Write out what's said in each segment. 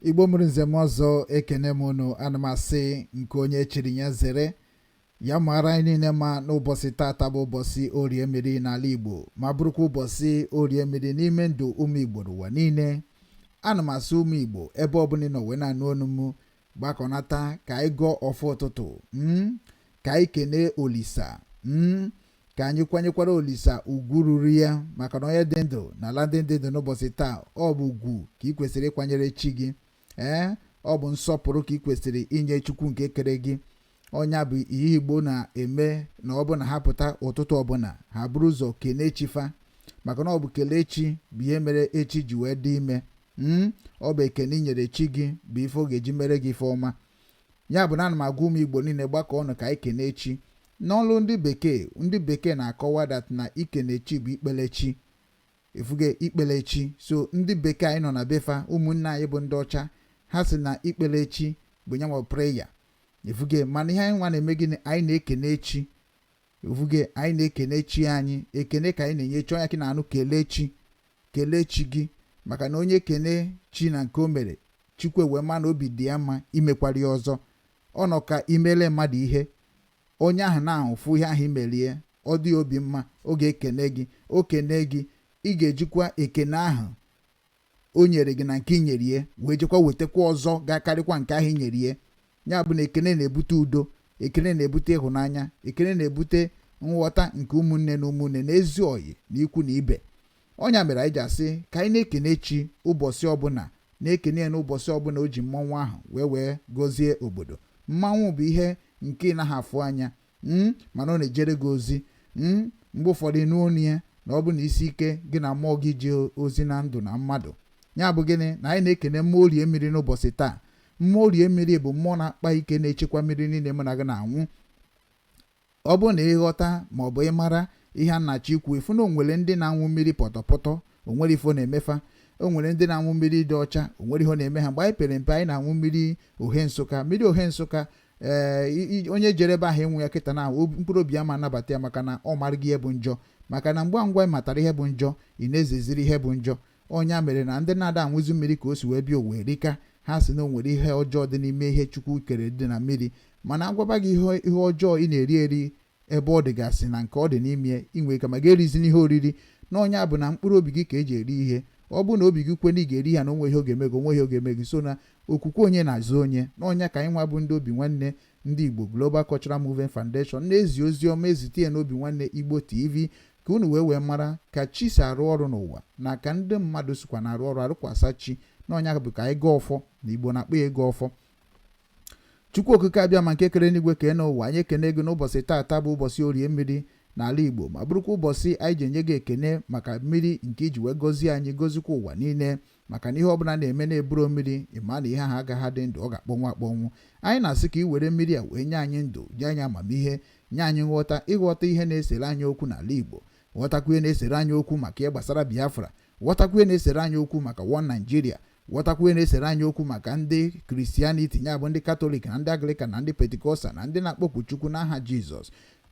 igbo mụrụ nze mụọ ọzọ ekene m unu ana m asị nke onye chiri ya zere ya maara anyị niile mma n'ụbọchị tata bụ ụbọchị orie mmiri n'ala igbo ma bụrụkwa ụbọchị orie mmiri n'ime ndụ ụmụ igbo n'ụwa niile ana m asị ụmụ igbo ebe ọbụla ị nọ wee na-anụ onu m gbakọnata ka anyị gọọ ọfọ ụtụtụ hmm? ka anyị kenee olisa hmm? ka anyị kwanyekwara olisa ugwu ruru ya maka na onye dị ndụ n'ala ndị dị ndụ n'ụbọchị taa ọ bụ ugwu ka ị kwesịrị ịkwanyere chi gị ee eh? ọ bụ nsọpụrụ ka ị kwesịrị inye chukwu nke kere gị ọ nya bụ ihe Igbo na-eme na ọ bụ na ha pụta ụtụtụ ọbụla ha buru ụzọ kelee chi fa maka na ọ bụ kelee chi bụ ihe mere echi ji wee dị ime hmm? ọ bụ ekene i nyere chi gị bụ ife ọ ga-eji mere gị ife ọma ya bụ na ana m agwa ụmụ Igbo niile gbakọ ọnụ ka anyị kenee chi n'olu ndị bekee ndị bekee na-akọwa that na ikene chi bụ ikpele chi ị fụgo ikpele chi so ndị bekee anyị nọ na be fa ụmụnne anyị bụ ndị ọcha ha sị na ikpele chi bụ nya nwa prayer ị fụgo mana ihe anyị nwa na-eme gịnị anyị na-ekene chi ị fụgo anyị na-ekene chi anyị ekene ka anyị na-enye chi ọ nya ka ị na-anụ kelee chi kelee chi gị maka na onye kene chi na nke o mere chukwu ewee ma na obi dị ya mma imekwara ya ọzọ ọ nọ ka i mele mmadụ ihe onye ahụ na-ahụ fụ ihe ahụ i mere ya ọ dị ya obi mma ọ ga-ekene gị o kene gị ị ga-ejikwa ekene ahụ o nyere gị na nke i nyere ya wee jekwa wetakwa ọzọ ga-akarịkwa nke ahụ i nyere ya ya bụ na ekene na-ebute udo ekene na-ebute ịhụnanya ekene na-ebute nghọta nke ụmụnne na ụmụnne na ezi oyi na ikwu na ibe ọ nya mere anyị ji asị ka anyị na-ekene chi ụbọchị ọbụla na-ekene ya n'ụbọchị ọbụla o ji mmanwụ ahụ wee wee gọzie obodo mmanwụ bụ ihe nke ị naghị afụ anya hmm, mana ọ na-ejere gị ozi hmm, mgbe ụfọdụ ị nụ onu ya na ọ bụ na isi ike gị na mmụọ gị ji ozi na ndụ na mmadụ ya bụ gịnị na anyị na-ekene mmụọ orie mmiri n'ụbọchị taa mmụọ orie mmiri bụ mmụọ na-akpa ike na-echekwa mmiri niile mụ na gị na-anwụ ọ bụ na ị ghọta ma ọ bụ ị mara ihe a na-achọ ikwu ị fụ na o nwere ndị na-anwụ mmiri pọtọpọtọ o nwere ife ọ na-eme fa o nwere ndị na-anwụ mmiri dị ọcha o nwere ihe na-eme ha mgbe anyị pere mpe anyị na-anwụ mmiri ohe nsụka mmiri ohe nsụka ee onye jere ebe ahụ ịnwụ ya kịta na mkpụrụ obi ya ama anabata ya maka na ọ marago ihe bụ njọ maka na ngwa ngwa ị matara ihe bụ njọ ị na-ezeziri ihe bụ njọ ọ nya mere na ndị na-ada anwụzi mmiri ka o si wee bịa owe rika ha sị na o nwere ihe ọjọọ dị n'ime ihe chukwu kere dị na mmiri mana a gwaba gị ihe ọjọọ ị na-eri eri ebe ọ dịgasị na nke ọ dị n'ime ya inwe ike ma ga-erizi n'ihe oriri na ọ nya bụ na mkpụrụ obi gị ka e ji eri ihe ọ bụ na obi gị kwe na ị ga-eri ya na o nwe ihe ọ ga-eme gị o nwe ihe ọ ga-eme gị sọ na okwukwe onye na-azọ onye na ọ nya ka anyị nwa bụ ndị obi nwanne ndị igbo Global Cultural Movement Foundation na-ezi ozi ọma ezite ya n'obi nwanne igbo tv ka unu wee mara ka chi si arụ ọrụ n'ụwa na ka ndị mmadụ sikwa na-arụ ọrụ arụkwasa chi na ọ nya bụ ka anyị gọọ ọfọ na igbo na-akpọ ya ịgọ ọfọ Chukwu okike abịama nke kere enigwe kee enu ụwa anyị ekene gị n'ụbọchị taata bụ ụbọchị orie mmiri n'ala Igbo ma bụrụkwa ụbọchị anyị ji enye gị ekene maka mmiri nke i ji wee gọzie anyị gozikwa ụwa niile maka na ihe ọbụla na-eme na-eburo mmiri ị ma na ihe ahụ agaghị adị ndụ ọ ga-akpọnwụ akpọnwụ anyị na-asị ka ị were mmiri a wee nye anyị ndụ nye anyị amamihe nye anyị nghọta ịghọta ihe na-esere anyị okwu n'ala Igbo ghọtakwa ihe na-esere anyị okwu maka ihe gbasara Biafra ghọtakwuo ihe na-esere anyị okwu maka One Nigeria ghọtakwuo ihe na-esere anyị okwu maka ndị Christianity ya bụ ndị Catholic na ndị Anglican na ndị Pentecostal na ndị na-akpọku chukwu n'aha jizọs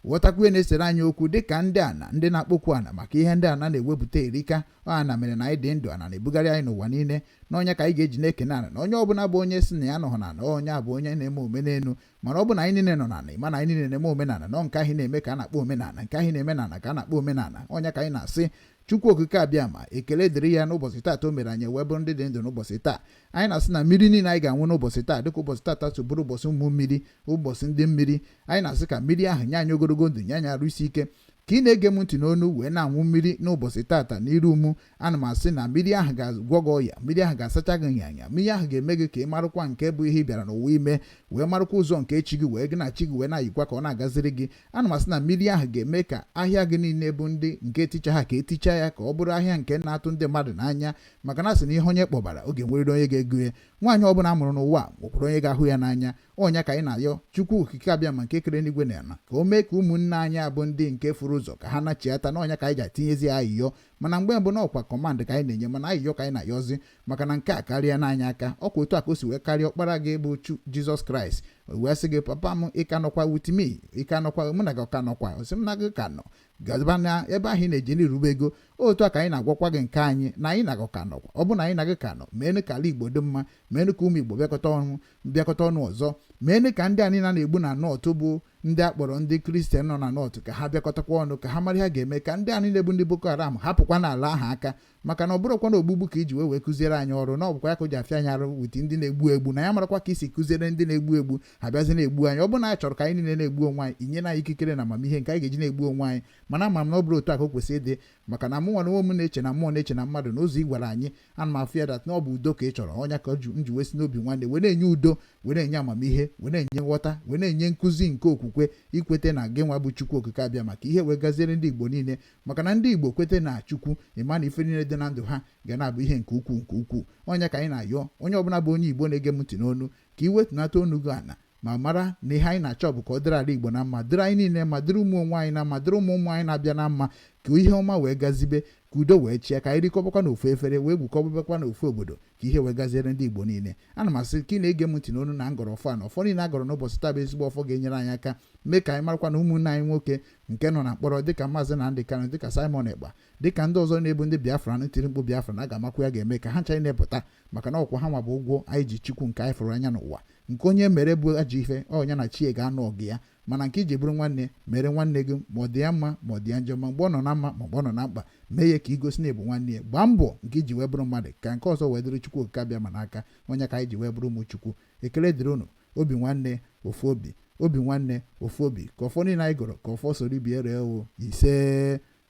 ghọtakwuo ihe na-esere anyị okwu dịka ndị ana ndị na-akpọku ana maka ihe ndị ana na-ewepụta erika ọ ana mere na anyị dị ndụ ana na-ebugharị anyị n'ụwa niile na ọ nya ka anyị ga-eji na-ekene ana na onye ọbụla bụ onye sị na ya anọghọ na onye a bụ onye na-eme omenelu mana ọ bụ na anyị niile nọ na ana ị ma na anyị niile na-eme omenala na ọ nke ahụ na-eme ka a na-akpọ omenala nke ahụ na-eme na ana ka a na-akpọ omenala ọ nya ka anyị na-asị Chukwu okike abịama ekele dịrị ya n'ụbọchị taata o mere anyị wee bụrụ ndị dị ndụ n'ụbọchị taa anyị na-asị na mmiri niile anyị ga-aṅụ n'ụbọchị taa dịka ụbọchị taata so bụrụ ụbọchị ụmụ mmiri ụbọchị ndị mmiri anyị na-asị ka mmiri ahụ nye anyị ogologo ndụ nye anyị arụ isi ike ka ị na-ege m ntị n'onu wee na-aṅụ mmiri n'ụbọchị taata n'iru mụ ana m asị na mmiri ahụ ga-agwọ gị ọya mmiri ahụ ga-asacha gị anya mmiri ahụ ga-eme gị ka ị marụkwa nke bụ ihe ị bịara n'ụwa ime wee marụkwa ụzọ nke chi gị wee gị na chi gị wee na-ayikwa ka ọ na-agaziri gị ana m asị na mmiri ahụ ga-eme ka ahịa gị niile bụ ndị nke ticha ha ka eticha ya ka ọ bụrụ ahịa nke na-atụ ndị mmadụ n'anya maka na a sị na ihe onye kpọbara ọ ga-enweriri onye ga-ego ya nwaanyị ọbụla a mụrụ n'ụwa nwekwara onye ga-ahụ ya n'anya ọ nya ka anyị na-ayọ chukwu okike abịama nke kere enigwe na ala ka o mee ka ụmụnne anyị a bụ ndị nke furu ụzọ ka ha nachiata na ọ nya ka anyị ji atinyezi ayịyọ mana mgbe mbụ na ọ kwa command ka anyị na-enye mana ayịyọ ka anyị na-ayọzi maka na nke a karịana anyị aka ọ kwa otu a ka o si wee karịa ọkpara gị bụ chu jizọs kraịst wee sị gị papa m ị ka nọkwa with me ị ka nọkwa mụ na gị ọ ka nọkwa ọ sị m na gị ka nọ gaba na ebe ahụ ị na-ejeli rube ego otu a ka anyị na-agwakwa gị nke anyị na anyị na gị ọ ka nọkwa ọ bụ na anyị na gị ka nọ meenụ ka ala igbo dị mma meenụ ka ụmụ igbo bịakọta ọnụ bịakọta ọnụ ọzọ meenụ ka ndị anyị a na-egbu na north bụ ndị a kpọrọ ndị Christian nọ na north ka ha bịakọtakwa ọnụ ka ha mara ihe ha ga-eme ka ndị anyị na-egbu ndị boko haram hapụkwa n'ala ahụ aka maka na ọ bụrụkwa na ogbugbu ka i ji wee kụziere anyị ọrụ na ọ bụkwa ya ka o ji afịa anyị arụ with ndị na-egbu egbu na ya marakwa ka i si kụziere ndị na-egbu egbu ha bịazi na-egbu anyị ọ bụrụ na anyị chọrọ ka anyị niile na-egbu onwe anyị i nyena anyị ikikere na amamihe nke anyị ga-eji na-egbu onwe anyị mana ama m na ọ bụrọ otu a ka o kwesịrị ịdị maka na mụnwa na onwe m na-eche na mmụọ na-eche na mmadụ na ụzọ ị gwara anyị ana m afụ ya that na ọ bụ udo ka ị chọrọ ọ nya ka m ji wee si n'obi nwanne wee na-enye udo wee na-enye amamihe wee na-enye nghọta wee na-enye nkụzi nke okwukwe ikwete na gị nwa bụ Chukwu Okike Abịama ka ihe wee gaziere ndị Igbo niile maka na ndị Igbo kwete na Chukwu ị ma na ife niile dị na ndụ ha ga na-abụ ihe nke ukwuu nke ukwuu ọ nya ka anyị na-ayọ onye ọbụla bụ onye Igbo na-ege m ntị n'onu ka ị wetunata onu gị ana ma mara na ihe anyị na-achọ bụ ka ọ dịrị ala Igbo na mma dịrị anyị niile mma dịrị ụmụ onwe anyị na mma dịrị ụmụ ụmụ anyị na-abịa na mma ka ihe ọma wee gazibe ka udo wee chịa ka anyị rikọbakwa na ofu efere wee gwukọbakwa na ofu obodo ka ihe wee gaziere ndị Igbo niile ana m asị ka ị na-ege m ntị n'onu na m gọrọ ọfọ na ọfọ niile a gọrọ n'ụbọchị taa bụ ezigbo ọfọ ga-enyere anyị aka mee ka anyị marakwa na ụmụnne anyị nwoke nke nọ na mkpọrọ dịka Maazị Nnamdi Kanu dịka Simon Ekpa dịka ndị ọzọ na-abụ ndị Biafra na-etiri mkpu Biafra na ga-amakwu ya ga-eme ka ha ncha na-epụta maka na ọ kwa ha nwa bụ ụgwọ anyị ji chukwu nke anyị fụrụ anya n'ụwa nke onye mere bụ ajọ ife ọ nya na chi e ga-anụ ọgụ ya mana nke i ji bụrụ nwanne mere nwanne gị ma ọ dị ya mma ma ọ dị ya njọ ma mgbe ọ nọ na mma ma mgbe ọ nọ na mkpa mee ya ka i gosi na ị bụ nwanne ya gbaa mbọ nke i ji wee bụrụ mmadụ ka nke ọzọ wee dịrị chukwu okike abịama n'aka ọ nya ka anyị ji wee bụrụ ụmụ chukwu ekele dịrị unu obi nwanne ofu obi obi nwanne ofu obi ka ọfọ niile anyị gọrọ ka ọfọ soro ibe e ree o ise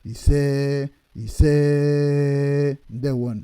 ise ise ndewonụ